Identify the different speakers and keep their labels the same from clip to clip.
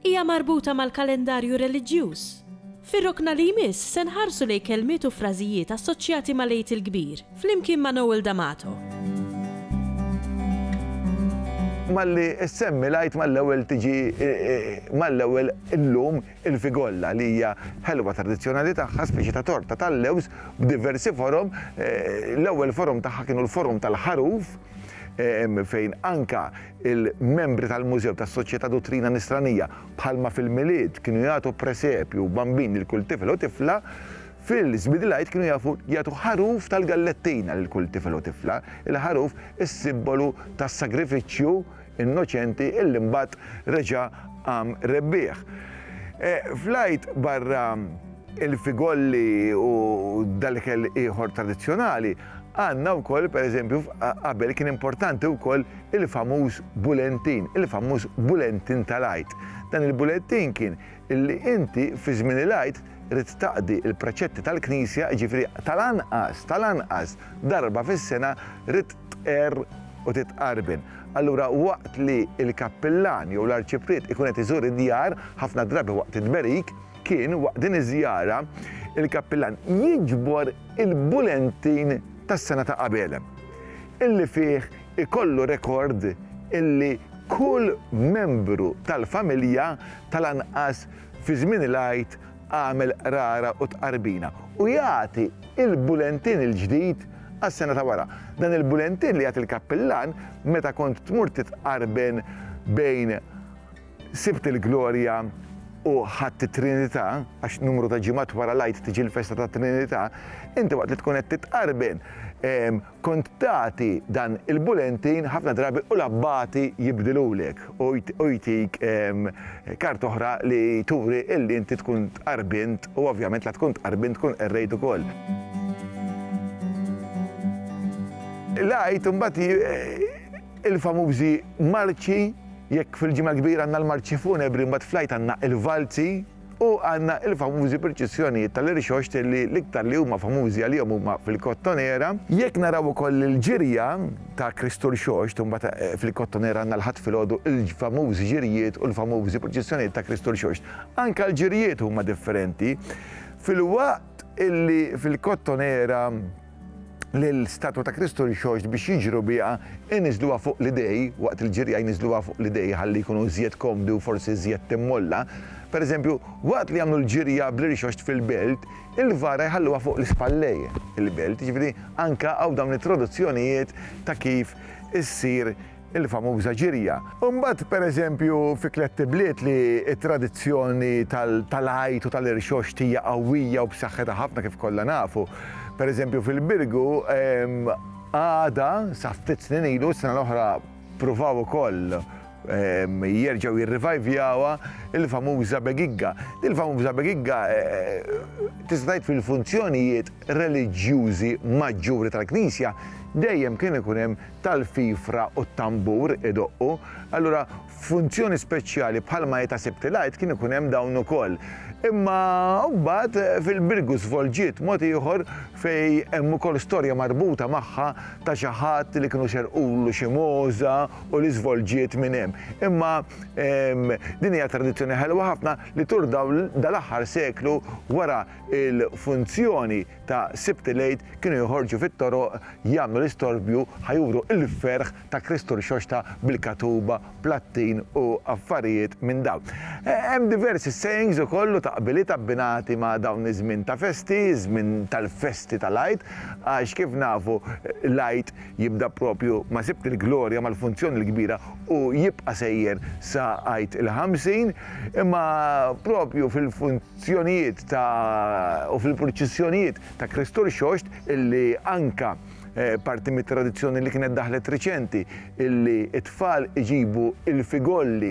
Speaker 1: Hija marbuta mal-kalendarju reliġjuż. Fir-rokna li jmiss se nħarsu lejn kelmiet u frażijiet assoċjati mal-Għid il-Kbir, flimkien ma' Noel D'Amato.
Speaker 2: Malli ssemmi l-Għid mal-ewwel tiġi mal-ewwel illum il-figolla li hija ħelwa tradizzjonali tagħha, speċi ta' torta tal-lewż b'diversi forom. L-ewwel forom tagħha kienu l-forom tal-ħaruf fejn anke Il-membri tal-Mużew tas-Soċjetà Duttrina Nisranija, bħalma fil-Milied kienu jagħtu presepju u bambin lil kull tifel u tifla, fil-Żbidilgħid kienu jafu jagħtu ħaruf tal-gallettina lil kull tifel u tifla, il-ħaruf is-sibbolu tas-sagrifiċċju innoċenti illi mbagħad reġa' qam rebbieħ. Fl-Għid barra l-figolli u dal-ikel ieħor tradizzjonali, Għandna wkoll, pereżempju, qabel kien importanti wkoll il-famuż bulentin, il-famuż bulentin tal-Għid. Dan il-bulettin kien li inti fi żmien il-Għid ridt taqdi l-preċetti tal-Knisja, jiġifieri tal-anqas, tal-anqas darba fis-sena ridt tqerr u titqarben. Allura waqt li l-kappillan jew l-arċipriet ikun qed iżur id-djar, ħafna drabi waqt it-tberik, kien waqt din iż-żjara il-kappillan jiġbor il-bulentin tas-sena ta' qabel, illi fih ikollu rekord illi kull membru tal-familja tal-anqas fi żmien il-Għid għamel qrara u tqarbina, u jagħti l-bulentin il-ġdid għas-sena ta' wara. Dan il-bulentin li jagħti l-kappillan meta kont tmur titqarben bejn Sibt il-glorja u ħadt it-Trinità, għax numru ta' ġimgħat wara l-Għid tiġi l-festa tat-Trinità, inti waqt li tkun qed titqarben kont tagħti dan il-bulentin ħafna drabi u l-abbati jibdilulek u jtik karta oħra li turi li inti tkun tqarbint u ovvjament la tkun tqarbint tkun qerrejt ukoll. L-Għid imbagħad Il-famużi marċi, jekk fil-Ġimgħa l-Kbira għandna l-marċi funebri mbagħad fl-Għid għandna il-valzi u għandna il-famużi proċessjonijiet tal-irxoxt li l-iktar li huma famużi għalihom huma fil-Kottonera. Jekk naraw ukoll il-ġirja ta' Kristu Rxoxt u mbagħad fil-Kottonera għandna l-Ħadd filgħodu il-famużi ġirjiet u l-famużi proċessjonijiet ta' Kristu Rxoxt. Anke l-ġirjiet huma differenti filwaqt illi fil-Kottonera li l-statwa ta' Kristu rxoxt biex jiġru biha, iniżżluha fuq l-idej, waqt il-ġirja jniżżluha fuq l-idej ħalli jkunu iżjed komdi u forsi iżjed timmolla. Pereżempju, waqt li jagħmlu l-ġirja bl-irxoxt fil-belt, il-vara jħalluha fuq l-ispallej, il-belt, jiġifieri anke hawn dawn it-traduzzjonijiet ta' kif issir il-famuża ġirja. U mbagħad pereżempju fi Klett Ibliet li t-tradizzjoni tal-Għid u tal-Irxoxt hija qawwija u b'saħħitha ħafna kif kollha nafu. Pereżempju fil-Birgu għada sa ftit snin ilu, s-sena l-oħra pruvaw ukoll jerġgħu jirrivajvjawha il-famuża begigga. Din il-famuża begigga tista' tgħid fil-funzjonijiet reliġjużi maġġuri tal-Knisja dejjem kien ikun hemm tal-fifra u t-tambur idoqqu, allura f'funzjoni speċjali bħalma hi ta' Sibt il-Għid kien ikun hemm dawn ukoll. Imma mbagħad fil-Birgu żvolġiet mod ieħor fejn hemm ukoll storja marbuta magħha ta' xi ħadd li kienu xerrqulu xi mogħża u li żvolġiet minn hemm. Imma din hija tradizzjoni ħelwa ħafna li tul dal-aħħar seklu wara l-funzjoni ta' Sibt il-Għid kienu joħorġu fit-toroq jagħmlu l-istorbju ħa juru il-ferħ ta' Kristu Rxoxta bil-katuba, plattin u affarijiet minn dawn. Hemm diversi sayings ukoll u taqbiliet abbinati ma' dawn iż-żmien ta' festi, iż-żmien tal-festi tal-Għid, għax kif nafu l-Għid jibda propju ma' Sibt il-Glorja mal-Funzjoni l-Kbira u jibqa' sejjer sa Għid il-Ħamsin, imma propju fil fjonijiet ta' u fil-purċissjonijiet ta' Kristu Rxoxt illi anka parti mit-tradizzjoni li kienet daħlet riċenti illi t-tfal iġibu il-figolli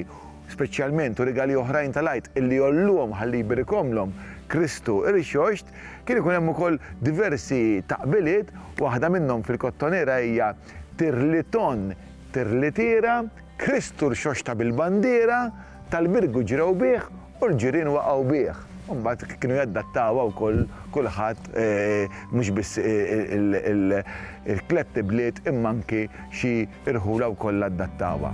Speaker 2: speċjalment u rigali oħrajn tal-Għid illi jgħolluhom ħalli jbirikomlhom Kristu Rxoxt, kien ikun hemm ukoll diversi taqbiliet, waħda minnhom fil-Kottonera hija Tirliton tirlitiera, Kristu Rxoxta bil-bandiera, tal-Birgu ġrew bih U l-ġirien waqgħu bih. U mbagħad kienu jaddattawha wkoll kulħadd mhux biss il-tlett ibliet imma anki xi rħula wkoll addattawha.